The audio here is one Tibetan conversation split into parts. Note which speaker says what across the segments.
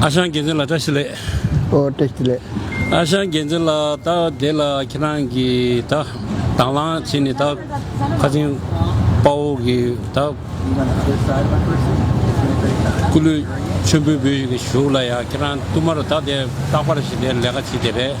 Speaker 1: ཨ་ཞང་རྒྱལ་མཚན་ལ་བཀྲ་ཤིས་ལེགས། ཨོ་བཀྲ་ཤིས་
Speaker 2: ལེགས། ཨ་ཞང་
Speaker 1: རྒྱལ་མཚན་ལགས་ད་དེ་ལ་ཁྱེད་རང་གི་ད་དང་བླངས་བྱས་ནས་ད་ཁ་ཆེན་དཔའ་བོ་གི་ད་སྐུ་ལུས་མཆོད་འབུལ་འབུལ་བཞུགས་ལ་ཡ་ཁྱེད་རང་བསྟུད་མར་ད་དེ་རྟག་པར་བྱེད་དེ་ལས་ཀ་བྱེད་དེ་རེད།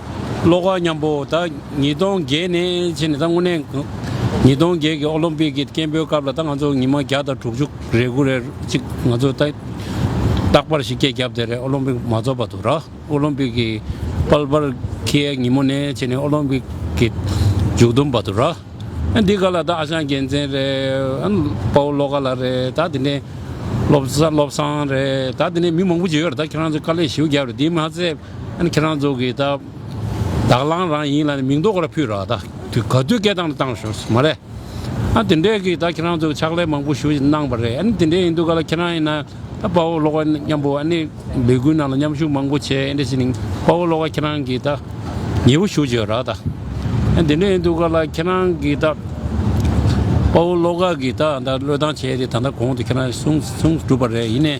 Speaker 1: བློ་དགའ་མཉམ་པོ་ད་ཉིས་སྟོང་བརྒྱད་ནས་ཕྱི་ནས་ད་དངོས་གནས་ཉིས་སྟོང་བརྒྱད་ཀྱི་ཨོ་ལོམ་པིག་གི་སྐད་འབོད་སྐབས་ལ་ད་ང་ཚོ་ཉི་མ་བརྒྱ་དང་དྲུག་ཅུ་རེ་དགུ་རེ་གཅིག་ང་ཚོ་ད་རྟག་པར་ཞིག་སྐད་བརྒྱབ་དེ་རེད་ཨོ་ལོམ་པིག་མ་རྫོགས་པ་དུ་ར་ཨོ་ལོམ་པིག་གི་དཔལ་འབར་གྱི་ཉིན་མོ་ནས་ཕྱི་ནས་ཨོ་ལོམ་པིག་གི་མཇུག་བསྡོམས་པ་དུ་ར་འདི་ག་ལ་ད་ཨ་ཞང་རྒྱལ་མཚན་རེད་ཨ་དཔའ་བོ་བློ་དགའ་ལགས་རེད་ད་དེ་ནས་བློ་བཟང་རེད་ད་དེ་ནས་མི་མང་པོ་བྱས་ཡོད་རེད་ད་ཁྱེད་རང་ཚོས་དཀའ་ལས་ཞེའུ་བརྒྱབ་རེད་དེ་མ་ཟད་ཨ་ནི་ཁྱེད་རང་ཚོ་གིས་ད་དག་བླངས་རང་ཡིན་ལ་ནི་མིང་འདོགས་ལ་ཕུད་ར་ད་དུས་ག་དུས་སྐད་བཏང་ནི་བཏང་ཞོར་མ་རེད། ཨ་དེ་འདྲས་གིས་ད་ཁྱེད་རང་ཚོ་གི་ཕྱག་ལས་མང་པོ་ཞུ་བཞིན་གནང་བ་རེད་ཨ་ནི་དེ་འདྲས་ཡིན་དུས་ག་ལ་ཁྱེད་རང་ཡིན་ན་ད་དཔའ་བོ་ལོག་ཨ་ནི་མཉམ་པོ་ཨ་ནི་ལས་འགུལ་ནང་ལ་མཉམ་ཞུགས་མང་པོ་བྱས་ཨེ་འདྲས་ཞེ་ནི་དཔའ་བོ་ལོག་ཨ་ཁྱེད་རང་གིས་ད་ཉེ་བོ་ཞུ་བྱོས་ར་ད་ཨ་དེ་འདྲས་ཡིན་དུས་ག་ལ་ཁྱེད་རང་གིས་ད་དཔའ་བོ་ལོག་ཨ་གིས་ད་ད་བློས་བཏང་བྱས་ཏེ་ད་ད་གོང་དུ་ཁྱེད་རང་གིས་གསུངས་གསུངས་གྲུབ་པ་རེད་ཡིན་ནས།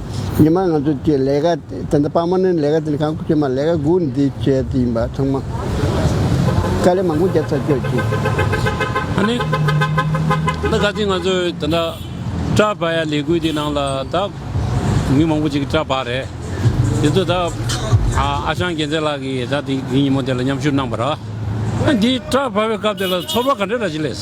Speaker 2: ཉི་མ་ང་ཚོས་ཀྱི་ལས་ཀ་དེ་འདྲ་སྤང་མ་ནི་ལས་ཀ་དེ་འདྲ་གང་བྱེད་མ་ལས་ཀ་དགུ་འདི་བྱེད་དེ་ཡིན་པ་ཚང་མ་དཀའ་ལས་མང་པོ་རྒྱབ་ཚར་བསྐྱོད་ཀྱིས།
Speaker 1: ཨ་ནི། ད་ག་དུས་ང་ཚོས་དེ་འདྲ་སྐྲ་བག་ཡ་ལས་འགུལ་འདི་ནང་ལ་ད་མི་མང་པོ་ཅིག་སྐྲ་བག་རེད། དེ་ཚོ་ད་ཨ་ཞང་རྒྱལ་མཚན་ལགས་ཀྱིས་ད་དེ་ཉིན་མོ་དེ་ལ་མཉམ་ཞུགས་གནང་པ་ར། ཨ་འདི་སྐྲ་བག་པའི་སྐབས་དེ་ལ་ཚོར་བ་ག་འདྲ་ར་ཅིག་ལས།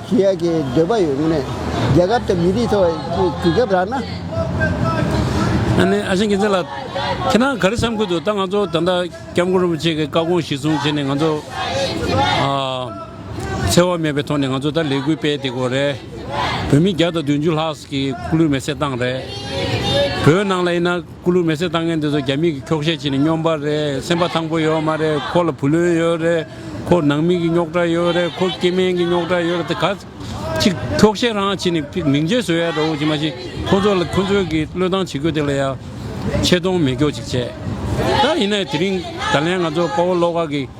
Speaker 2: ཞེས་ཡ་གྱི་འདོད་པ་ཡོད་ངེས། རྒྱལ་ཁབ་དང་མི་རིགས་ཚོ་དུས་སྐབས་རག་ན། ཨ་
Speaker 1: ནེ་ཨ་ཞང་གིན་ཚེ་ལ། ཁྱེད་རང་ག་རེ་བསམ་ཁུལ་དུ་ད་ང་ཚོ་ད་ལྟ་སྐྱབས་མགོན་རིན་པོ་ཆེ་གི་བཀའ་དགོངས་གཞིར་བཟུང་བྱས་ནས་ང་ཚོ། འཚེ་བ་མེད་པའི་ཐོག་ནས་ང་ཚོ་ད་ལས་འགུལ་སྤེལ་དེ་གོ་རེད། བོད་མི་བརྒྱ་དང་བདུན་ཅུ་ལྷག་གིས་ཁུག་ལུས་མེ་བསྲེགས་བཏང་རེད། བོད་ནང་ལ་ཡིན་ན། སྐུ་ལུས་མེ་བསྲེགས་བཏང་མཁན་དེ་ཚོ་རྒྱ་མིས་ཀྱི་ཁྱོག་བཤད་བྱས་ནས་སྙོམས་པ་རེད་སེམས་པ་ཐང་པོ་ཡོད་མ་རེད་ཁོ་ལ་བུ་ལོན་ཡོད་རེད་ཁོ་ནང་མི་ཀྱི་རྙོག་དྲ་ཡོད་རེད་ཁོ་སྐྱེ་དམན་ཀྱི་རྙོག་དྲ་ཡོད་རེད་དེ་ག་ཅིག་ཁྱོག་བཤད་རང་བྱས་ནས་ཕིག་མིང་ཆད་བཟོས་ཡ་འདྲ་བོ་ཅིག་མ་གཞི་ཁོ་ཚོ་ལ་ཁོ་ཚོའི་ཀྱི་བློས་བཏང་བྱེད་དགོས་དེ་ལ་ཡ་ཆད་གཏོང་མེད་ཀྱོག་ཅིག་བྱས་ད་ཡིན་ན་ཡང་དེ་རིང་ད་ལན་ང་ཚོ་དཔའ་བོ་བློ་དགའ་ཀྱི།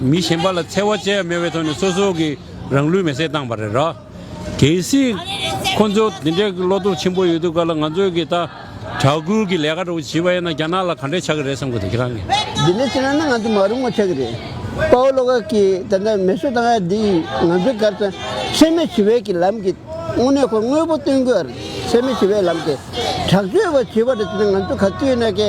Speaker 1: མི་གཞན་པ་ལ་འཚེ་བ་བཅས་མེད་པའི་ཐོག་ནས་སོ་སོ་གི་རང་ལུས་མེ་བསྲེགས་བཏང་བ་རེད། གལ་སྲིད་ཁོ་ཚོ་དེ་འདྲའི་བློ་སྟོབས་ཆེན་པོ་ཡོད་དུས་ག་ལ་ང་ཚོས་གི་ད་གྲྭ་ཁུལ་གི་ལས་ཀ་འགྲོ་བྱིས་པ་ཡིན་ན་རྒྱ་ནག་ལ་ག་འདྲས་ཆགས་ཀྱི་རེད་བསམ་དགོས་དེ་ཁྱེད་རང་གི། འདི་འདྲས་བྱས་ན་ང་ཚོ་
Speaker 2: མ་རུང་བ་ཆགས་ཀྱི་རེད། པའོ་ལོ་ཀར་གྱིས་ད་ལྟ་མེ་གསོད་བཏང་བ་འདི་ཡིས་ང་ཚོའི་གར་སོན་འཚེ་མེད་ཞི་བའི་གི་ལམ་གི་དངོས་གནས་ཁོ་དངོས་པོ་སྟོན་དགོས། འཚེ་མེད་ཞི་བའི་ལམ་གི་དྲག་སྤྱོད་པ་བྱེད་པ་རེད་དེ་ནི་ང་ཚོ་ག་དུས་ན་གི།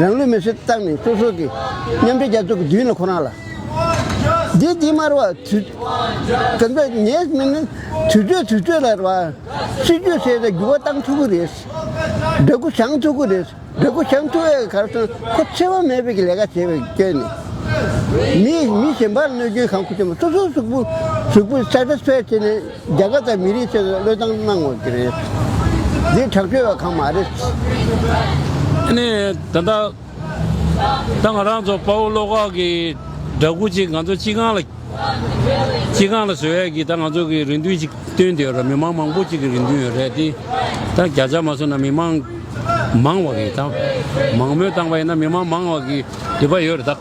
Speaker 2: རང་ལུས་མེར་སྲེག་བཏང་ནས་སོ་སོ་གི་མཉམ་འབྲེལ་རྒྱལ་ཚོགས་ཀྱི་མདུན་ལ་ཁོ་རང་ལ་བདེ་སྐྱིད་མར་བ་དུས་དེ་འདྲ་ངེས་མིན་ནི་དུས་ཚོད་དུས་ཚོད་ལ་རེད་བ། སྲིད་ཇུས་ཟེར་ནས་འགྱུར་བ་བཏང་ཐུབ་ཀྱི་རེད། སྦྲ་གུར་བྱང་ཐུབ་ཀྱི་རེད། སྦྲ་གུར་བྱང་ཐུབ་བའི་གར་སོང་ཁོ་འཚེ་བ་མེད་པའི་གི་ལས་ཀ་བྱེད་པའི་སྐྱོན་ནི། མི་མི་གཞན་པར་གནོད་སྐྱོན་གང་ཁུ་ཆེ་མ་སོ་སོའི་གཟུགས་པོ་གཟུགས་པོ་ས་ཁྲ་ཕལ་ཆེ་ནས། རྒྱ་གར་དང་མི་རིགས་ཆེད་དུ་བློས་བཏང་གནང་བ་དེ་རེད། འདི་དྲག་སྤྱོད་བ་གང་མ་རེད།
Speaker 1: ནས་ད་ལྟ། ད་ང་རང་ཚོ་དཔའ་བོ་བློ་ཁོག་གི་སྦྲ་གུ་གཅིག་ང་ཚོ་སྤྱི་ཁང་ལ། སྤྱི་ཁང་ལ་བཟོས་ཡས་ཀྱི་ད་ང་ཚོ་གི་རེ་འདུན་ཅིག་བཏོན་དེ་ཡོད་རེད་མི་མང་མང་པོ་གཅིག་གི་རེ་འདུན་ཡོད་རེད་དེ། ད་བརྒྱ་ཆ་མ་བཟོ་ན་མི་མང། མང་བ་གི་ད། མང་མོས་བཏང་བ་ཡིན་ན་མི་མང་མང་བ་གི་འདོད་པ་ཡོད་རེད་ད།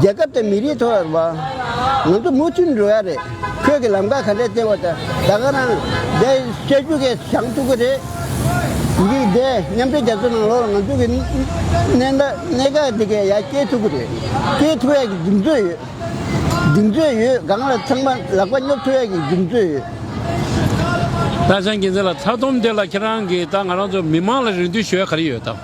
Speaker 2: རྒྱལ་ཁབ་དང་མི་རིགས་ཐོག་བ། ང་ཚོ་མུ་མཐུད་འགྲོ་ཡ་རེད། ཁྱོད་ཀྱི་ལམ་ཁ་ག་འདྲས་སྟེར་བ་ད་ད་ག་རང། འདས་ཤོད་རྒྱུ་གས་བྱང་ཐུག་གི་རེད། འདི་འདས་མཉམ་འབྲེལ་རྒྱ་མཚོ་ནང་ལོགས་ལ་ང་ཚོ་གི་གནས་ད་གནས་ག་འདི་གས་ཡ་སྐྱེལ་ཐུག་གི་རེད། སྐྱེལ་ཐུག་ཡ་གི་གདིང་ཚོད་ཡོད། གདིང་ཚོད་ཡོད་སྒང་ལ་ཚང་མ་ལག་པ་སྙོབ་ཐུག་ཡ་གི་གདིང་ཚོད་ཡོད།
Speaker 1: ད་བྱང་གིན་ཚེ་ལ་ཚ་ཐུམ་འདི་ལ་ཁྱེད་རང་གིས་ད་ང་རང་ཚོ་མི་མང་ལ་རེ་འདུན་ཞུ་ཡ་ག་རེ་ཡོད་ད།